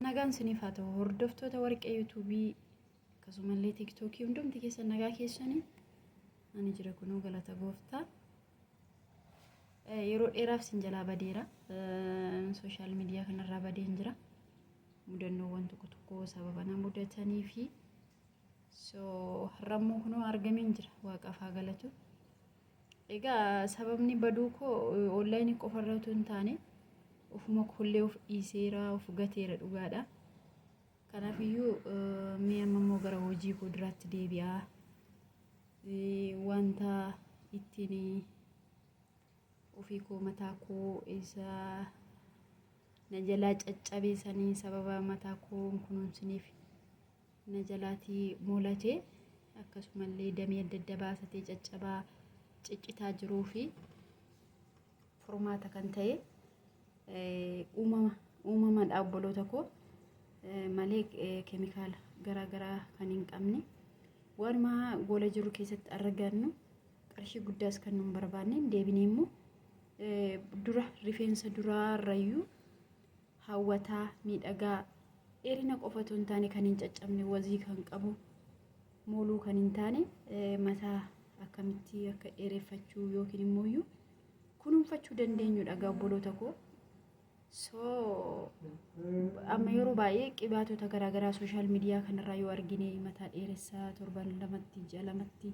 Nagaan siniif haa ta'u hordoftoota warqee yuutuubii akkasumallee tiiktookii hundumti keessan nagaa keessanii ani jira kunoo galata gooftaa yeroo dheeraaf sin jalaa badeera sooshaal miidiyaa kanarraa badeen jira mudannoowwan tokko tokko sababa na mudatanii fi so har'ammoo kunoo argameen jira waaqaaf haa galatu Egaa sababni baduu koo onlaayinii qofarra utuu hin taane ofuma koollee of dhiiseera of gateera dhugaadha. Kanaafiyyuu mee amma immoo gara hojii koo duraatti deebi'aa wanta ittiin ofii koo mataa koo isa na jalaa caccabee sanii sababa mataa koo hin kunuunsiniif na jalaatii moolate akkasumallee damee adda adda baasatee caccabaa ciccitaa jiruu fi furmaata kan ta'e uumama uumamadha obboloota koo malee keemikaala garaa garaa kan hin qabne waanuma goola jiru keessatti argannu qarshii guddaas kan nun barbaanne deebinee immoo dura rifeensa duraa irrayyuu hawwataa, miidhagaa, dheerina qofa otoo hin taane kan hin caccabne wazii kan qabu mooluu kan hin taane mataa akkamitti akka dheereffachuu yookiin immoo iyyuu kunuunfachuu dandeenyudha egaa obboloota koo. So amma yeroo baay'ee qibaatota garaagaraa sooshaal miidiyaa kanarraa yoo argine mataa dheeressaa torban lamatti ji'a lamatti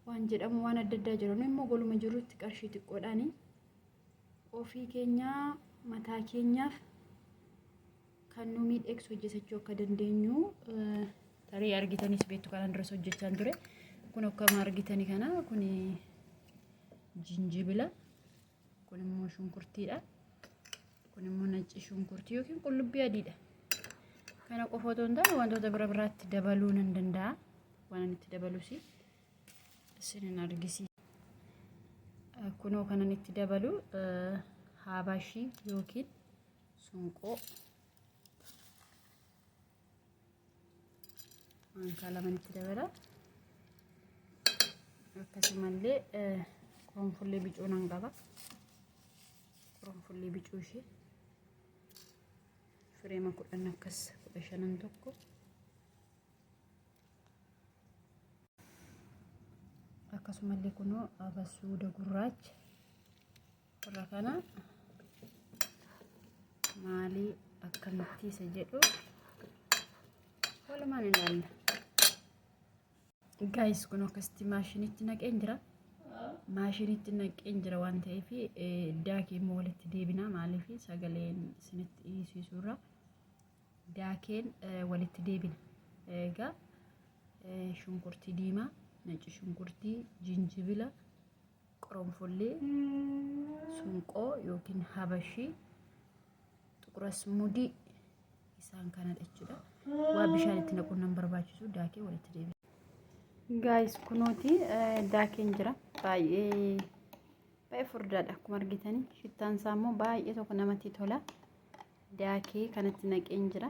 waan jedhamu waan adda addaa jira. Nu immoo goluma jirrutti qarshii xiqqoodhaani Ofii keenyaa mataa keenyaaf kan nu miidhegsu hojjetachuu akka dandeenyu tarii argitanis beektu kanan duras hojjechaan ture. Kun akkuma argitani kana kun jinjibila kun immoo shunkurtiidha. Kun immoo nacci shunkurtii yookiin qullubbii adiidha. Kana qofa otoo hin taane wantoota bira biraatti dabaluu nan danda'a. Waan ani itti dabalus isinin argisiisa. Kunoo kanan itti dabalu haabashii yookiin sunqoo maankaa laman itti dabala. Akkasumallee qoronfullee bicuu nan qaba. Qoronfullee bicuu ishee fireema kudhan akkas kudha shanan tokko. akkasumallee kunoo abasuuda gurraacha irra kana maalii akkamitti isa jedhu walumaan ilaalla. Gaayis kun akkasitti maashinitti naqeen jira. Maashinitti naqeen jira waan ta'eef daakii immoo walitti deebina maaliif sagaleen isinitti dhiyeessisurra daakeen walitti deebina. Egaa shunkurtii diimaa, nacci shunkurtii, jinjibila, qoronfollee, sunqoo yookiin habashii, xuqurasmudii isaan kana jechuudha. Waa bishaan itti naquun nan barbaachisu daakee walitti deebina. Gaayis kunooti daakeen jira baay'ee baay'ee furdaadha akkuma argitanii shittaan isaa immoo baay'ee tokko namatti tola. daakee kanatti naqeen jira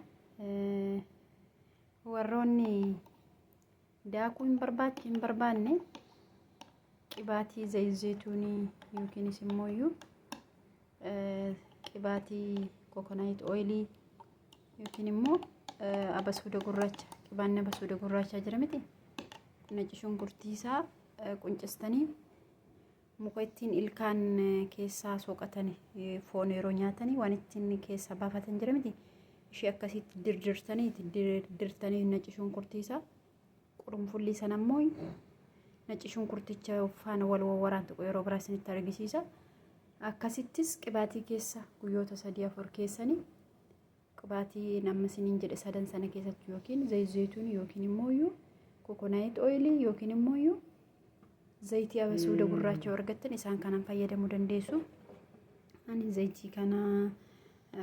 warroonni daakuu hin barbaach hin barbaanne qibaatii zayzeetuunii yookiinis immoo iyyuu qibaatii kokonaayit ooyilii yookiin immoo abasuuda gurraacha qibaanni abasuuda gurraachaa jira miti nacci shunkurtii isaa quncistanii Muka ittiin ilkaan keessaa soqatan foon yeroo nyaatanii waan ittiin keessaa baafatan jira miti. Ishee akkasitti dirdirtanii itti dirdirtanii nacci shunkurtiisa. Qurunfullii sana immoo nacci shunkurticha faana wal wawwaraan tokko yeroo biraa isinitti argisiisa. Akkasittis qibaatii keessa guyyoota sadii afur keessanii Qibaatii namni siniin jedhe sadan sana keessatti yookiin zayit zayituun yookiin immoo iyyuu kokonaayit ooyilii yookiin immoo iyyuu zayitii abasuuda gurraacha argattan isaan kanaan fayyadamuu dandeessu. Ani zayitii kana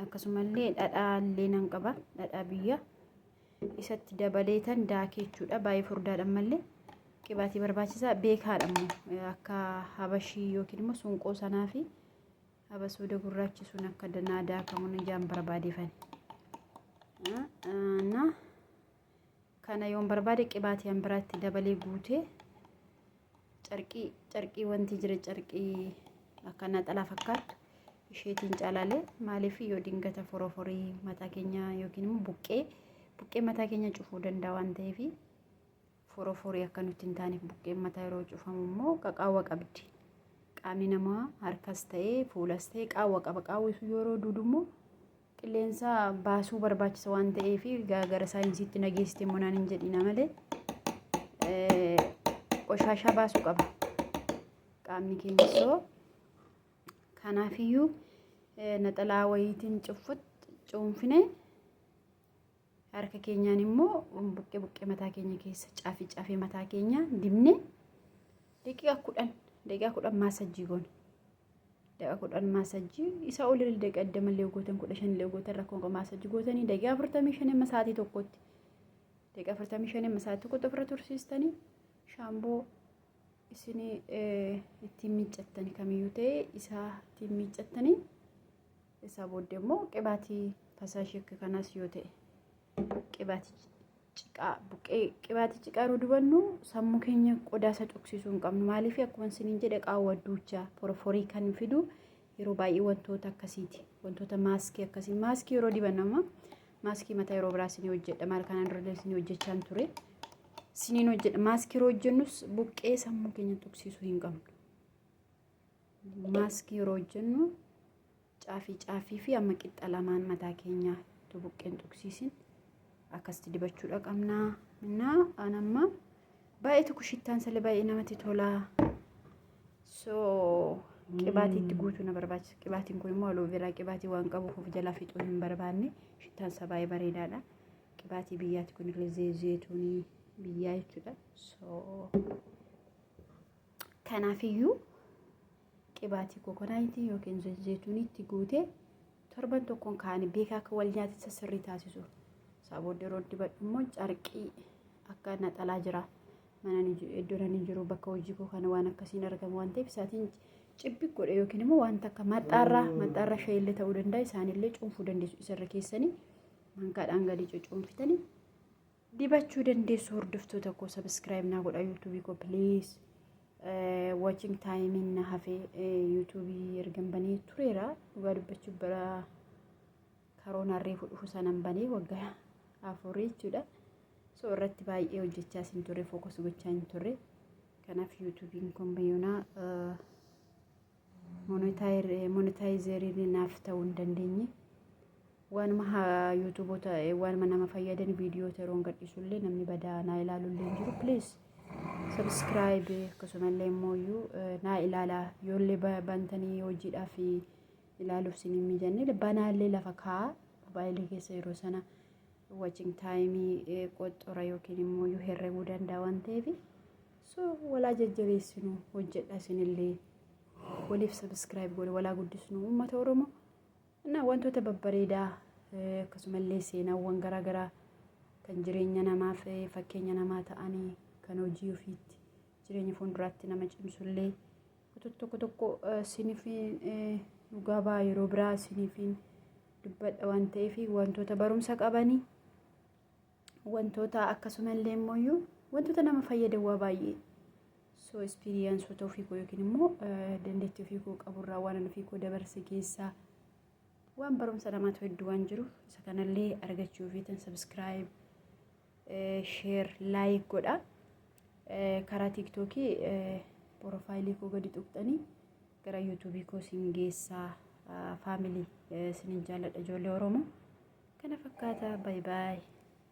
akkasumallee dhadhaa illee nan qaba dhadhaa biyya isatti dabaleetan daakee jechuudha baay'ee furdaadhaan mallee qibaatii barbaachisaa beekaadha immoo akka habashii yookiin immoo sunqoo sanaa fi Abasuuda gurraachi sun akka danaa daakamuun ijaan barbaadefan. Na kana yoon barbaade qibaatii an biraatti dabalee guutee carqii carqii wanti jira carqii akka naxalaa fakkaatu isheetiin caalaalee maaliif yoo dingata foroforii mataa keenya yookiin immoo buqqee buqqee mataa keenya cufuu danda'a waan ta'eef Foroforii akka nutti hin taaneef buqqeen mataa yeroo cufamu immoo qaqaawwa qabdi. Qaamni namaa harkas ta'ee fuulas ta'ee qaawwa qaba. Qaawwi sun yeroo duudu immoo qilleensa baasuu barbaachisa waan ta'eef gara saayinsiitti nageessite immoo naan hin jedhina malee qoshaashaa baasuu qaba. Qaamni keenya soo kanaafiyyuu naxalaa wayiitiin cuunfine Harka keenyaan immoo buqqee buqqee mataa keenya keessa caafii caafii mataa keenya dibne daqiiqa kudhan daqiiqa kudhan maasajjii goone. Daqiiqa kudhan maasajjii isa ol illee daqiiqa digdama illee gootan kudha shan illee gootan rakkoon qabu maasajjii gootanii daqiiqa afurtamii shan amma sa'aatii tokkotti. Daqiiqa afurtamii shan amma sa'aatii tokkotti ofirra tursiistanii shaamboo isin ittiin miiccattanii kamiyyuu ta'e isaa ittiin miiccattanii Isaa booddee immoo qibaatii fasaa shekka kanaas yoo ta'e qibaatii ciqaa buqqee qibaatii ciqaa yeroo dubannu sammuu keenya qodaasa cuqsiisuu hin qabnu maaliif akkuma isiniin jedhe qaawwa duuchaa foroforii kan fidu yeroo baay'ee wantoota akkasiiti wantoota maaskii akkasii maaskii yeroo diban amma maaskii mataa yeroo biraa isinii hojjedha maal kanaan dura isinii hojjechaa hin ture isiniin hojjedha maaskii yeroo hojjennus buqqee sammuu keenya tuqsiisuu hin qabnu. Maaskii yeroo hojjennu caafii caafii fi amma qixxa lamaan mataa keenyaa itti buqqeen tuqsiisin akkasitti dibachuudha qabnaa. Innaa an amma baay'ee tokko shittaan sale baay'ee namatti tolaa. So qibaatii itti guutuu na barbaachisa. Qibaatiin kun immoo aloe vera qibaatii waan qabuuf of jalaa fixuu hin barbaanne shittaan isaa baay'ee bareedaadha. Qibaatii biyyaati kun illee zeetuunii biyyaa jechuudha. So Kanaafiyyuu qibaatii kokonaayitii yookiin zayituuniitti guutee torban tokkoon kaa'anii beekaa akka wal nyaatessa sirrii taasisu. Isaa booddee yeroo dibadhu immoo carqii akka naxalaa jira. Mana iddoo ani jiru bakka hojii koo kana waan akkasiin argamu waan ta'eef isaatiin cibbi godhe yookiin immoo wanta akka maxxaarraa maxxaarraa shayillee ta'uu danda'a isaanillee cuunfuu dandeessu isarra keessanii mankaadhaan gadi cuunfitanii dibachuu dandeessu hordoftoota koo sabiskiraayib naa godha yuutuubii koo piliis watching time na hafe yuutuubii ergan banee tureera dhugaa dubbachuu bara karoona reefu dhufu sanan banee waggaa afurii jechuudha so irratti baay'ee hojjechaa sin turre fookas gochaa hin turre kanaaf yuutuubiin kun bayyonaa monetaayizeeriin naaf ta'uu hin dandeenye. Waanuma haa yuutuuboota waanuma nama fayyadan viidiyoota yeroon gadhiisullee namni badaa naa ilaalullee hin jiru. Please subscribe akkasumallee immoo iyyuu naa ilaalaa yoollee bantanii hojiidhaaf ilaaluuf sin hin mijanne banaallee lafa kaa'aa mobaayilii keessa yeroo sana watching taayimii qoxxora yookiin immoo iyyuu herreguu danda'a waan ta'eef. so walaa jajjabeessinu hojjedha isinillee waliif sabiskiraayib godhe walaa guddisnu uummata oromoo na wantoota babbareedaa akkasumallee seenaawwan garaagaraa kan jireenya namaaf fakkeenya namaa ta'anii kan hojii ofiitti jireenya fuulduraatti nama cimsullee wantoota tokko tokko sinifiin dhugaa baa yeroo biraa sinifiin dubbadha waan ta'eef wantoota barumsa qabanii wantoota akkasuma illee immoo wantoota nama fayyadan waa baay'ee soo ispiriyaansoota ofii koo yookiin immoo dandeettii ofii koo qaburraa waan ofii koo dabarse keessaa waan barumsa namaatu hedduu waan jiru isa kanallee argachuu fi tan sabiskiraayib sheer laayik godha karaa tiiktookii porofaayilii koo gadi tuqxanii gara yuutuubii koo siin geessaa faamilii sinin jaalladha ijoollee oromoo kana fakkaata baay baay